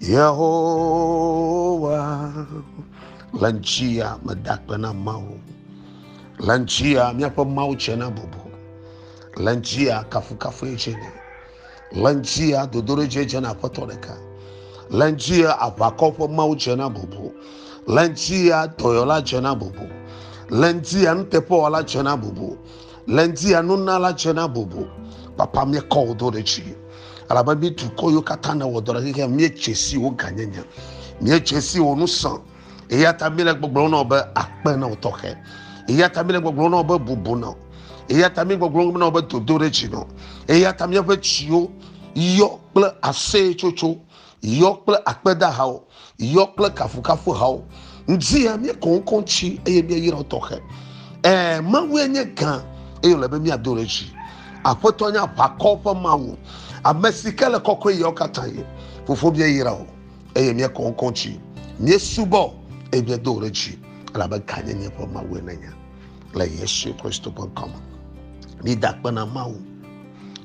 Yehowa le ŋtia medakpe na Mawu, le ŋtia míaƒe Mawu tse na bubu, le ŋtia kafukafu tse ne, le ŋtia dodoɖedze tse na aƒetɔ ɖeka, le ŋtia aʋakɔ ƒe Mawu tse na bubu, le ŋtia dɔyɔla tse na bubu, le ŋtia nuteƒewɔla tse na bubu, le ŋtia nunala tse na bubu. Papa, míekɔ wò do ɖe dzi. Elabe mi dukɔ yiwo katã nèwɔ dɔ ɖe xexea me, miedze si wò gãnyenye, miedze si wò ŋusẽ, eya ta míele gbɔgblɔm na wò be, Akpe na wò tɔxɛ. Eya ta míele gbɔgblɔm na wò be, Bubu na wò. Eya ta míele gbɔgblɔm na wò be, Dodoɖedzi na wò. Eya ta míaƒe dziwo yɔ kple aseyetsotso. yɔ kple akpedahawo, yɔ kple kafukafuhawo. Ŋdzia míekɔ ŋkɔ tsi eye míeyra tɔxɛ. Ẽ, Mawue nye gã eye wòle be míado ɖe dzi. Aƒetɔ nye aʋakɔ ƒe Mawu, ame si ke le kɔkɔe ɣeawo katã ɣi. Fofo, míeyra wò eye míekɔ ŋkɔ tsi. Míesubɔ wò eye míedo wò ɖe dzi elabe gãnyenye ƒe Mawue nènye. le yesu kristo ƒe ŋkɔme mida kpe na mawu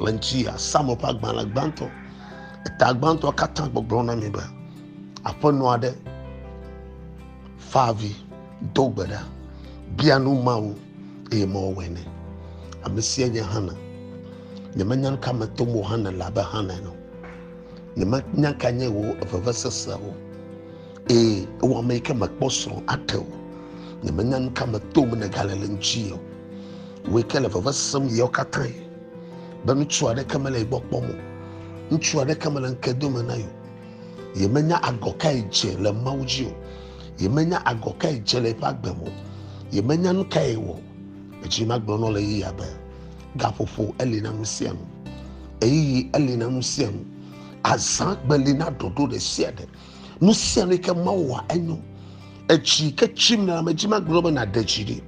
le ŋuti asamuel ƒe agbalẽ gbãtɔ eta gbãtɔ katã gbɔgblɔ na mi be aƒenɔ aɖe fa avi do gbe ɖa bia nu mawu eye mawu wɔe nɛ ame sia nye hana nyemenya nu ka me tom wò hana le abe hana ene nyemenya ka nye wò vevesese o Ee, ewɔ ame yi ke mekpɔ srɔ̃ aɖe o. Nyemenya nu ka me tom nègale le ŋuti o. Wò yi ke le veve sem ɣeawo katã be ŋutsu aɖeke mele ye gbɔ kpɔm o. Ŋutsu aɖeke mele ŋke dome na ye o. Yemenya agɔ kae dze le Mawu dzi o. Yemenya agɔ kae dze le eƒe agbe me o. Yemenya nu kae wɔ. Edzi magblɔ nɔ le yeyea be gaƒoƒo eli na nu sia nu. Ɣeyiɣi eli na nu sia nu. Azã gbeli na ɖoɖo ɖe sia ɖe. nu sia nu ke mawu wɔa enyo etsi ke tsim le ame dzi magblɔ be nàɖe dzi ɖi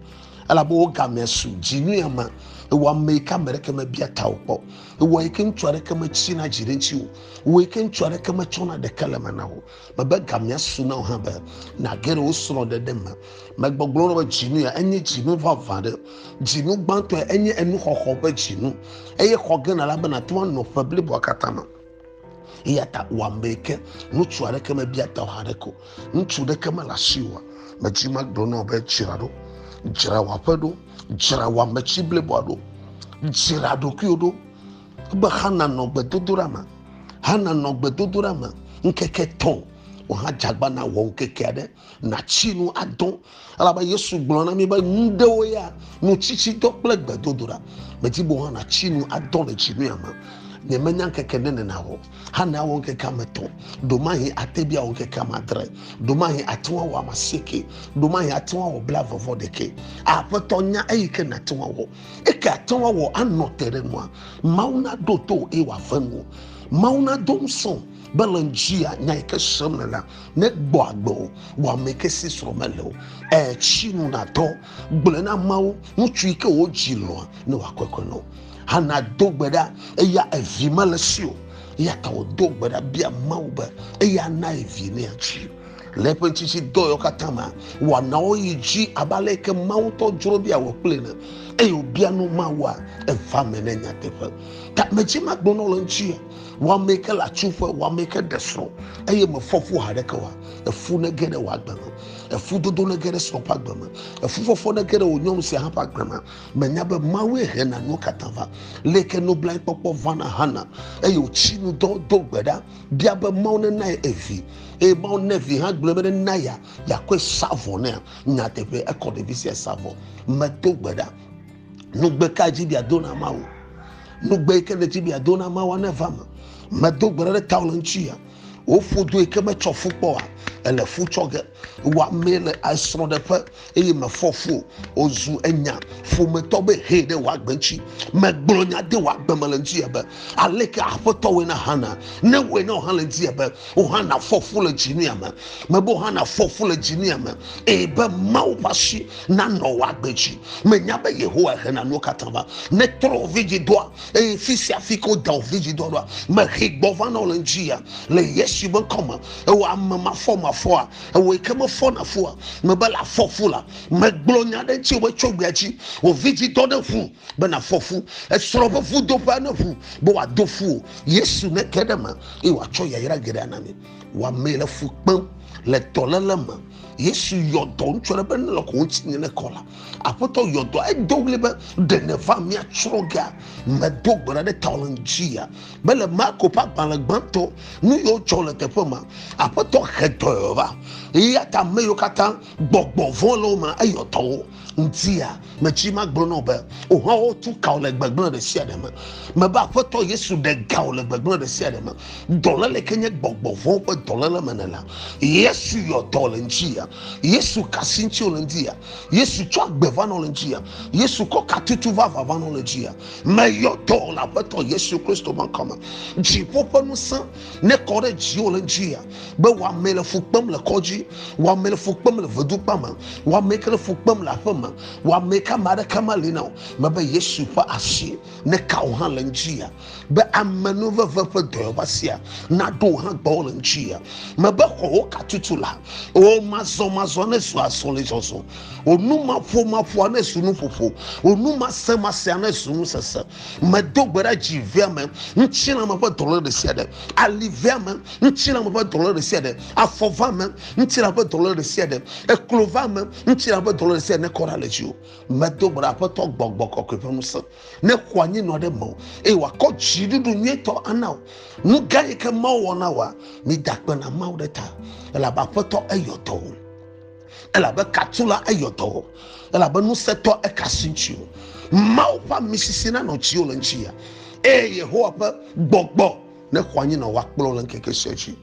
elabe wo gamea su dzi nu ya ma ewɔ ame yi ke ame ɖeke mebia ta o kpɔ ewɔ yi ke ŋutsu aɖeke metsi na dzi ɖe ŋuti o ewɔ yi ke ŋutsu aɖeke metsɔna ɖeke le me na o mebe gamea su na o hã be nàge ɖe wo srɔ̃ ɖeɖe me megbɔgblɔ na be dzinu ya enye dzinu vavã ɖe dzinu gbãtɔ enye enuxɔxɔ ƒe dzinu eye xɔ gena la be nàte ŋu anɔ ƒe bliboa katã me eya ta wòamee ke ŋutsu aɖeke mebia ta o haɖeke o ŋutsu ɖeke mele asi o metsi magblɔ na wò be dzra ɖo dzra wò aƒe ɖo dzra wò ametsi bliboa ɖo dzra ɖokuiwo ɖo be hana nɔ gbedodoɖa me hana nɔ gbedodoɖa me ŋkeke tɔ̃ wòhadzagba na wɔ ŋkeke aɖe Natsi nu adõ, elabe Yesu gblɔ na mí be nu ɖewo ya, nutsitsidɔ kple gbedodoɖa. Medi be wò hã nàtsi nu adõ le dzinua me. Nyemenya ŋkeke ɖe nena o. Hana wɔ ŋkeke ame etɔ̃. Ɖomahi ate be awɔ ŋkeke ame adre. Ɖomahi ate ŋu awɔ ame asieke. Ɖomahi ate ŋu awɔ blaeve-vɔ-ɖekɛ. Aƒetɔ nya eyi ke nàte ŋu awɔ. Eke àte ŋu awɔ anɔ te ɖe nua? Mawu naɖo to wò eye wòave nuwò. Mawu nado ŋusẽ wò. be le ŋdzia nya yi ke sem le la negbɔ agbe o wɔame ke si srɔ̃ mele o etsi nu natɔ gblɔe na amewo ŋutsu yi ke wodzi lɔa ne wòakɔkɔe nɔ hana do gbe ɖa eya evi mele si o eya ta wòdo gbe ɖa bia mawu be eya na evi ne atsi le eƒe tsitsi dɔyɔ katã ma wɔnawo yi dzi abe ale yi ke mawu tɔ dzro bia wɔ kple ne eye wòbia nu mawua eva me ne nyateƒe ta medzi magblɔ nɔ le ŋuti Wame ke le atsuƒe, wame ke ɖe srɔ̃, eye mefɔ fu haɖeke o. Efu nege ɖe wò agbe me, efudodo nege ɖe srɔ̃ ƒe agbe me, efufɔfɔ nege ɖe wò nyɔnu sia hã ƒe agbe me. Mènya be Mawue hena nuwo katã va? Lé ke nublanuikpɔkpɔ va na Hana, eye wòtsi nu dɔ do gbe ɖa bia be Mawu nena ye evi, eye Mawu ne vi hã gblɔe be nena ya, yeakɔe sa vɔ nea? Nyateƒee, ekɔ ɖevi sia sa vɔ. Medo gbe ɖa. Nugbe ka dzi bia do na Mawu? Nugbe yi ke le dzi bia do na Mawu ne va me. Medo gbe ɖe tao le ŋuti ya. Woƒo do yi ke metsɔ fu kpɔ wa. Ele fu tsɔ ge. Wa mee le esrɔ̃ ɖe ƒe eye me fɔ fu. Wozu enya ƒometɔ be he ɖe wa gbe ŋuti. Me gblɔ nya de wa gbe me le ŋuti ya be aleke aƒetɔ wɔ na hana. Ne wɔ na hã le ŋuti ya be wo hã na fɔ fu le dzi nu ya me. Me be wo hã na fɔ fu le dzi nu ya me. Eye be Mawu ƒe asi nanɔ wò agbe dzi. Mènya be Yehowae hena nuwo katã va netrɔ wò vidzidɔa, eye fi sia fi ke wodea wò vidzidɔa ɖoa, mehee gbɔ va na wò le ŋudzia? Le Yesu ƒe ŋkɔ me, ewɔ ame mafɔmafɔa, ewɔ yi ke mefɔna fua, mebe la fɔ fu la. Megblɔ nya ɖe ŋutiwò be tso egbea dzi, wò vidzidɔ neʋu be nàfɔ fu, esrɔ̃ ƒe vudoƒea neʋu be wòado fu wò. Yesu neke ɖe eme, eye wòatsɔ yayra geɖe ana mi. Wɔamee le fu kpem le dɔléle me. Yesu yɔ dɔ ŋutsu aɖe be nelɔ ko ŋuti nye ne kɔ la. Aƒetɔ yɔ dɔ edo ɣli be ɖe nèva míatsrɔ̃ gea medo gbe ɖa ɖe tawò le ŋutia. Mele Marko ƒe agbalẽ gbãtɔ nu yiwo dzɔ le teƒe ma. Aƒetɔ he dɔ va. Eya ta ame yiwo katã Gbɔgbɔ vɔ̃ le wo me eyɔ dɔ wo ŋutia. Metsi magblɔ na wò be, wò hã wotu ka wò le gbegblẽ ɖe sia ɖe me. Mebe, Aƒetɔ Yesu, ɖe ga wò le gbegblẽ ɖe sia ɖe me. Dɔléle ke nye gbɔgbɔ vɔ̃wo ƒe dɔléle me nèle. Yesu yɔ dɔ le ŋutia. Yesu ka asi ŋuti wòle ŋutia. Yesu tsɔ agbe va na wò le ŋutia. Yesu kɔ katutu vavã va na wò le ŋutia. Meyɔ dɔ le Aƒetɔ Yesu Kristo ƒe ŋkɔ me. Dziƒo ƒe ŋusẽ nekɔ ɖe dziwò le ŋutia. be wɔame le fu kpem le kɔdzi wɔame le fu kpem le vedukpa me wɔame ke le fu kpem le aƒe me wɔame ka ma ɖeka ma li na o mebe yesu ƒe asi ne ka o hã le ŋdzi ya be amenuveve ƒe dɔyɔva sia naɖo hã gbɔwo le ŋdzi ya mebe xɔwo katutu la o mazɔmazɔ ne zu azɔli zɔzɔ o numaƒomaƒoa ne zu nuƒoƒo o numasemasia ne zu nusese Medo gbe ɖa dzi veame, ŋutilãme ƒe dɔléle ɖe sia ɖe, ali veame, ŋutilãme ƒe dɔléle ɖe sia ɖe, afɔ veame, ŋutilãme ƒe dɔléle ɖe sia ɖe, eklo veame, ŋutilãme ƒe dɔléle ɖe sia ɖe nekɔ ɖa le dziwò. Medo gbe ɖa Aƒetɔ Gbɔgbɔ Kɔkɔe ƒe ŋusẽ nexɔ anyi nɔ ɖe mewò, eye wòakɔ dziɖuɖu nyuitɔ ana wò. Nu gã yi ke Mawu wɔ na wòa, mida akpe na Mawu ɖe ta, elabe Aƒetɔ eyɔ dɔ wò. elabe katula eyɔ dɔ o elabe ŋusẽtɔ eka asi ŋuti o mawu ƒe amisisi nanɔ dziwò le ŋuti ya eye yehowa ƒe gbɔgbɔ nexɔ anyi nɔ woakplɔ le ŋkeke sia dzi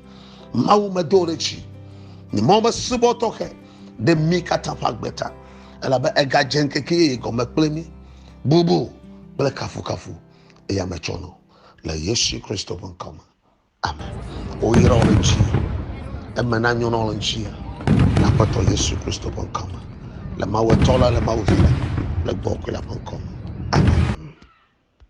mawu medo ɖe dzi nye mawu be subɔ tɔxɛ ɖe mí katã ƒe agbe ta elabe egadze ŋkeke yeye gɔme kple mí bubu kple kafukafu eya metsɔ nɔ le yesu kristo ƒe ŋkɔ me Ame. Woyra wò ɖe dzi. Eme nanyo na wò le ŋuti. Le Aƒetɔ Yesu Kristo ƒe ŋkɔ me. Le Mawu Etɔ la, le Mawu Vi la, le Gbɔgbɔ Kɔkɔe la ƒe ŋkɔ me. Amen.